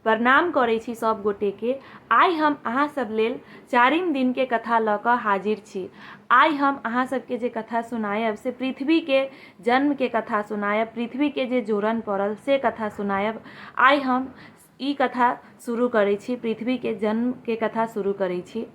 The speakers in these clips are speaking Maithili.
प्रणाम करै छी सब गोटे के आइ हम अहाँ सब लेल चारिम दिन के कथा लऽ कऽ हाजिर छी आइ हम अहाँ सबके जे कथा सुनायब से पृथ्वी के जन्म के कथा सुनायब पृथ्वी के जे जोड़न पड़ल से कथा सुनायब आइ हम ई कथा शुरू करै छी पृथ्वी के जन्म के कथा शुरू करै छी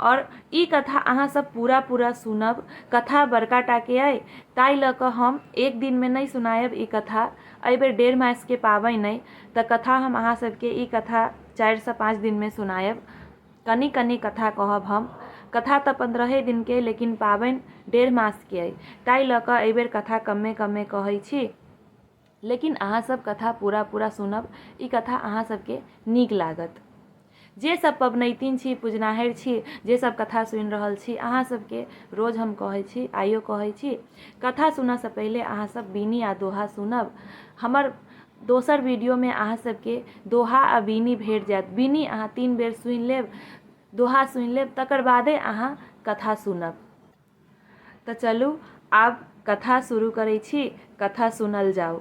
और ई कथा अहाँ सब पूरा पूरा सुनब कथा बड़का टा के अइ ताहि लऽ कऽ हम एक दिन में नहीं सुनायब ई कथा एहि बेर डेढ़ मास के पाबनि अइ तऽ कथा हम अहाँ सबके ई कथा चारि सँ पाँच दिन मे सुनायब कनी कनी कथा कहब हम कथा तऽ पन्द्रहे दिन के अइ लेकिन पाबनि डेढ़ मास के अइ ताहि लऽ कऽ एहि बेर कथा कम्मे कम्मे कहै छी लेकिन अहाँ सब कथा पूरा पूरा सुनब ई कथा अहाँ सबके नीक लागत जे सब पबनैतिन छी पुजनाहरि छी जे सब कथा सुनि रहल छी अहाँ सबके रोज हम कहै छी आइयो कहै छी कथा सुनऽसँ पहिले अहाँ सब बीनी आ दोहा सुनब हमर दोसर वीडियोमे अहाँ सबके दोहा आ बीनी भेट जायत बीनी अहाँ तीन बेर सुनि लेब दोहा सुनि लेब तकर बादे अहाँ कथा सुनब तऽ चलू आब कथा शुरू करै छी कथा सुनल जाउ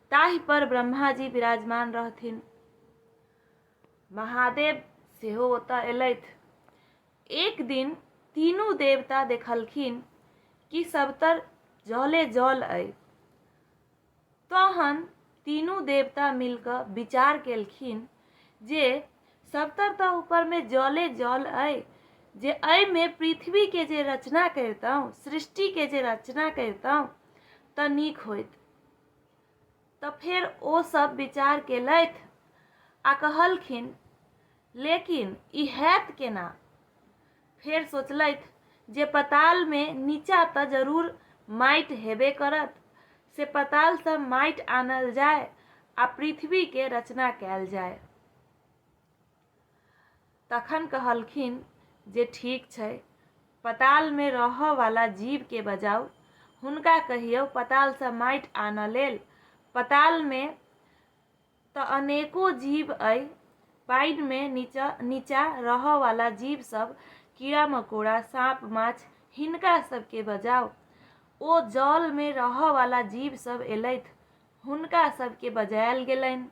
ताहि पर ब्रह्मा जी विराजमान रहथिन महादेव सेहो ओतय एलथि एक दिन तीनू देवता देखलखिन कि सबतर जले जल अइ तहन तीनू देवता मिलकर विचार केलखिन जे सबतर तऽ ऊपरमे जले जल अइ जे एहिमे पृथ्वीके जे रचना करितहुँ सृष्टिके जे रचना करितहुँ तऽ नीक होइत तँ फेर ओ सभ विचार केलथि आ कहलखिन, लेकिन ई हएत केना? फेर सोचलथि जे पतालमे नीचाँ तँ जरूर माटि हेबे करत, से पतालसँ माटि आनल जाए आ पृथ्वीकेँ रचना कएल जाए। तखन कहलखिन जे ठीक छै, पतालमे रहऽ वाला जीवकेँ बजाउ। हुनका कहियौ पतालसँ माटि आनऽ लेल। पतालमे तँ अनेको जीव अइ। पानिमे नीचा-नीचा रहऽ वाला जीव सभ, कीड़ा-मकोड़ा, साँप-माछ, हिनका सभकेँ बजाउ। ओ जलमे रहऽ वाला जीव सभ एलथि, हुनका सभकेँ बजायल गेलनि।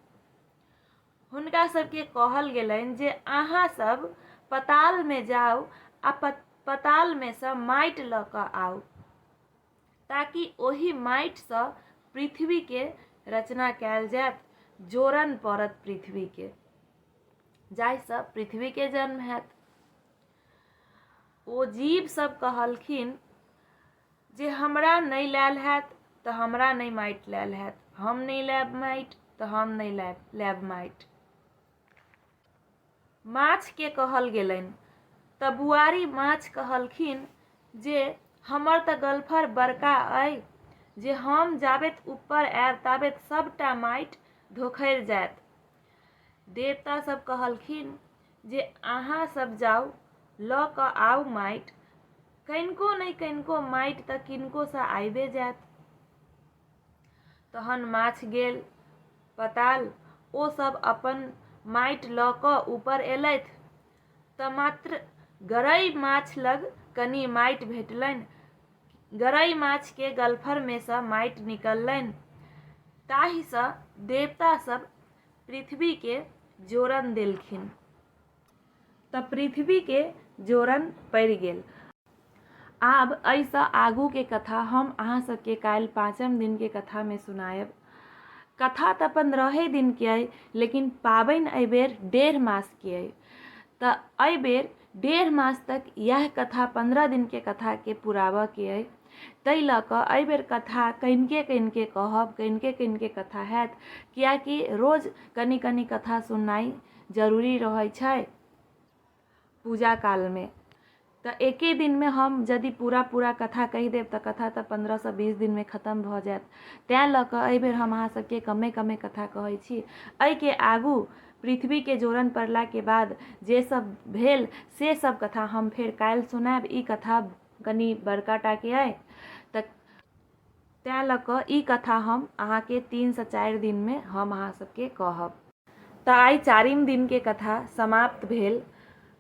हुनका सबके कहल गेलनि जे अहाँ सब पताल में जाउ आ पताल में से माटि ल क आउ ताकि ओहि माटि से पृथ्वी के रचना कैल जायत जोड़न पड़त पृथ्वी के जाहि से पृथ्वी के जन्म हैत ओ जीव सब कहलखिन जे हमरा नहि लायल हैत तऽ हमरा नहि माटि लायल हैत हम नहि लायब माटि तऽ हम नहि लायब लायब माटि माछके कहल गेलनि तऽ बुआरी माछ कहलखिन जे हमर तऽ गलफर बड़का अइ जे हम जाबेत ऊपर आयब ताबेत सभटा माटि धोखरि जायत देवता सब कहलखिन जे अहाँ सब जाउ लऽ कऽ आउ माटि कनिको नहि कनिको माटि तऽ किनकोसँ आबे जायत तहन माछ गेल पताल ओ सब अपन माटि लऽ कऽ ऊपर एलथि तऽ मात्र गरई माछ लग कनि माटि भेटलनि गरई माछके गलफरमे सँ माटि निकललनि ताहिसँ देवता सब पृथ्वीके जोरन देलखिन तऽ पृथ्वीके जोरन पड़ि गेल आब एहिसँ आगूके कथा हम अहाँ सबके काल्हि पाँचम दिनके कथामे सुनायब कथा तऽ पन्द्रहे दिनके अइ लेकिन पाबनि एहिबेर डेढ़ मासके अइ तऽ एहिबेर डेढ़ मास तक इएह कथा पन्द्रह दिनके कथाके पुराबऽके अइ ताहि लऽ कऽ एहि बेर कथा कनिके कनिके कहब कनिके कनिके कथा हैत किएकि रोज कनि कनि कथा सुननाइ जरूरी रहै छै पूजा कालमे तऽ एके दिनमे हम यदि पूरा पूरा कथा कहि देब तऽ कथा तऽ पन्द्रहसँ बीस दिनमे खतम भऽ जायत तैँ लऽ कऽ एहि बेर हम अहाँ सभके कमे कमे कथा कहै छी एहिके आगू पृथ्वीके जोड़न पड़लाके बाद जे सब भेल से सब कथा हम फेर काल्हि सुनाएब ई कथा कनि बड़का टाके अइ तऽ तैँ लऽ कऽ ई कथा हम अहाँके तीनसँ चारि दिनमे हम अहाँ सबके कहब तऽ आइ चारिम दिनके कथा समाप्त भेल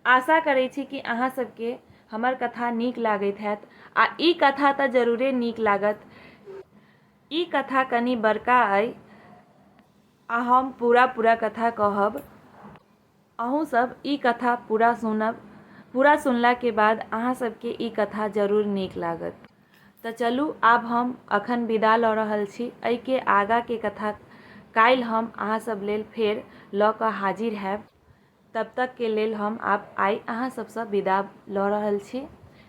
आशा करै छी कि अहाँ सबके हमर कथा नीक लागैत हैत आ ई कथा तऽ जरूरे नीक लागत ई कथा कनि बड़का अइ आ हम पूरा पूरा कथा कहब अहूँ सब ई कथा पूरा सुनब पूरा सुनला के बाद अहाँ सबके ई कथा जरूर नीक लागत तऽ चलू आब हम अखन विदा लऽ रहल छी एहि के आगा के कथा काल्हि हम अहाँ सब लेल फेर लऽ कऽ हाजिर हैब तब तक के लेल हम आब आइ अहाँ सबसँ विदा लऽ रहल छी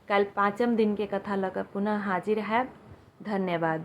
काल्हि पाँचम दिन के कथा लऽ कऽ पुनः हाजिर हैब धन्यवाद